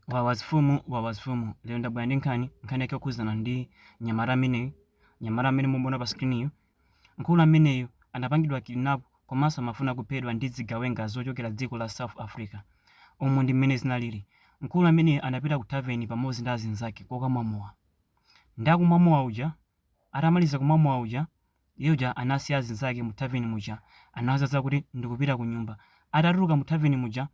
wawazifumu wawazifumu lero ndabwera ndi nkhani nkhani yake yokhudzana ndi mnyamata ameneyu mnyamata amene mukumuona pa screen mkulu ameneyu anapangidwa kidnap komanso amafuna kuphedwa ndi zigawenga zochokera dziko la south africa umu ndi mmene zinalili mkulu ameneyu anapita ku taveni pamodzi ndi azinzake kokamwa mowa ndi akumwa mowa uja atamaliza kumwa mowa uja iye uja anasiya azinzake mu taveni muja anawatsanzika kuti ndikupita ku nyumba atatuluka mu taveni muja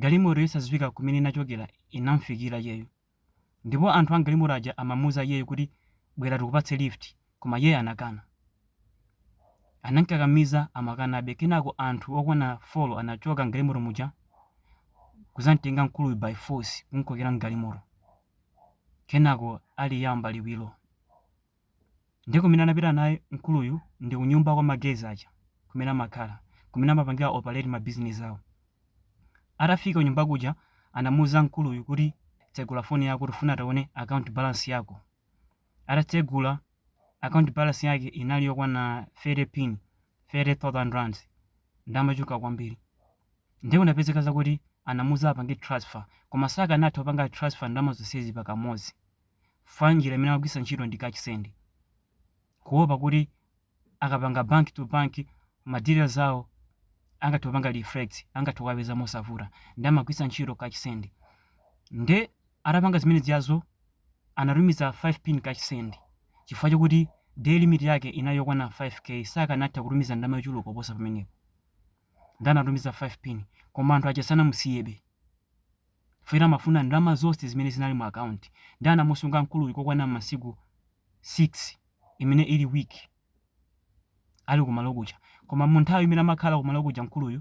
Galimoto yosadziwika kumene inachokera inam'fikira iyeyo, ndipo anthu a m'galimoto aja amamuuza iyeyo kuti, Bwera tikupatse lift, koma iyeyo anakana. Anam'kakamiza, amakanabe. Kenako anthu okwana four anachoka m'galimoto muja n'kudzam'tenga mkuluyu by force kum'kokera m'galimoto. Kenako aliyamba liwiro. Ndiye kumene anapita naye mkuluyu ndi kunyumba kwa ma guys aja kumene amakhala, kumene amapangira operate ma business awo. Atafika kunyumba kuja anamuuza mkuluyu kuti tsegula phone yako tifuna tione account balance yako. Atatsegula account balance yake inali yokwana 30 pin, 30,000 rands, ndalama yochuluka kwambiri. Ndiye kunapezeka zakuti anamuuza apange transfer koma sakanatha kupanga transfer ndalama zonsezi pakamodzi. fwa njira imene amagwiritsa ntchito ndi cash send kuopa kuti akapanga bank to bank ma details awo angathe kupanga reflect angathe kukapeza mosavuta ndi amagwiritsa ntchito cash send nde atapanga zimene zijazo anatumiza 5 pin cash send chifukwa chokuti daily limit yake inali yokwana 5k sakanatha kutumiza ndalama yochuluka kuposa pamenepo ndi anatumiza 5 pin koma anthu aja sanamusiyebe Chifukwa amafuna ndalama zonse zimene zinali mu account ndi anamusunga mkuluyu kokwana masiku 6 imene ili week ali kumalo kuja koma mu nthawi imene amakhala kumalo kuja mkuluyu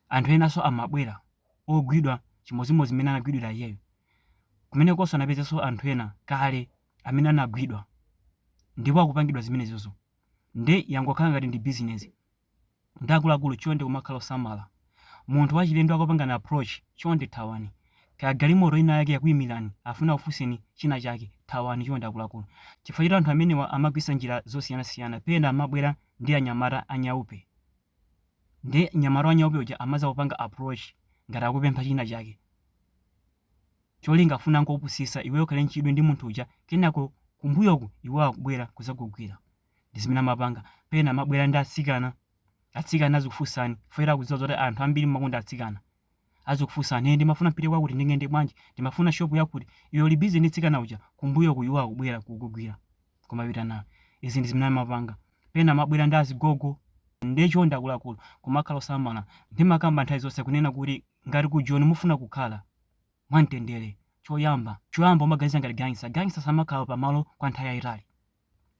anthu enanso amabwera ogwidwa chimodzimodzi mmene anagwidwira iyeyo kumenekonso anapezanso anthu ena kale amene anagwidwa ndipo akupangidwa zimenezozo nde yangokhala ngati ndi business Ndi akuluakulu chonde kumakhala osamala. Munthu wachilendo akakupangani approach, chonde thawani. Kaya galimoto inayake yakuimirani afuna akufunseni china chake, thawani chonde akuluakulu. Chifukwa choti anthu amenewa amagwiritsa njira zosiyanasiyana. Pena amabwera ndi anyamata a nyaupe. Nde mnyamata wa nyaupe uja amadzakupanga approach ngati akupempha china chake. Cholinga afuna angokupusitsa iweyo ukhale nchidwi ndi munthu uja kenako kumbuyoku iwowo akubwera kudzakugwira. ndi zimene amapanga pena amabwera ndi atsikana atsikana azikufunsani chifukwa akudziwa zoti anthu ambiri mumakonda atsikana azikufunsani ndimafuna ndipite kwakuti ndingayende bwanji ndimafuna shop yakuti iwe uli busy ndi mtsikana uja kumbuyoku iwo akubwera kukugwira kumapita nawo izi ndi zimene amapanga pena amabwera ndi azigogo nde chonde akuluakulu kumakhala osamala ndimakamba nthawi zonse kunena kuti ngati ku Joni mufuna kukhala mwamtendere choyamba choyamba umaganiza ngati gangster gangster samakhala pamalo kwa nthawi yayitali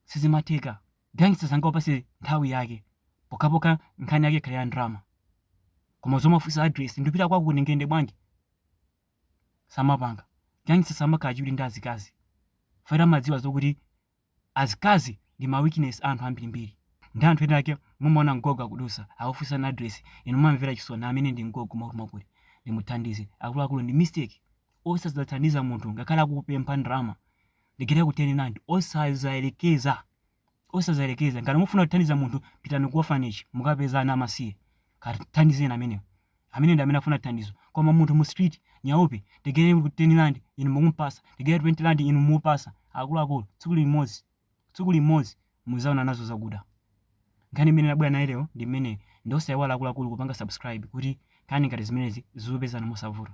sizimatheka gangster sangakupase nthawi yake pokhapokha nkhani yake ikhale ya ndrama koma zomafunsa address ndipita kwakuti ndingayende bwanji samapanga gangster samakhala chidwi ndi azikazi chifukwa amadziwa zokuti azikazi ndi ma weakness anthu ambirimbiri ndi anthu ena ake mumaona mgogo akudusa akufunsa na address inu mumamvera chisoni amene ndi mgogo mwakuti mwakuti ndimuthandize akuluakulu ndi mistake osazathandiza munthu ngakhale akukupempha ndrama ndigayireko ten rand osazayerekeza osazayerekeza ngati mufuna kuthandiza munthu pitani ku orphanage mukapeza ana amasiye kathandizeni amenewo amene ndi amene afuna thandizo koma munthu mu street nyaupe ndigayireko ten rand inu mukumpasa ndigayire 20 rand inu mukumpasa akuluakulu tsiku limodzi tsiku limodzi muzaona nazo zakuda nkhani imene nabwera nayo lero ndi imeneyi nde osaiwala akuluakulu kupanga subscribe kuti nkhani ngati zimenezi zizikupezani mosavuta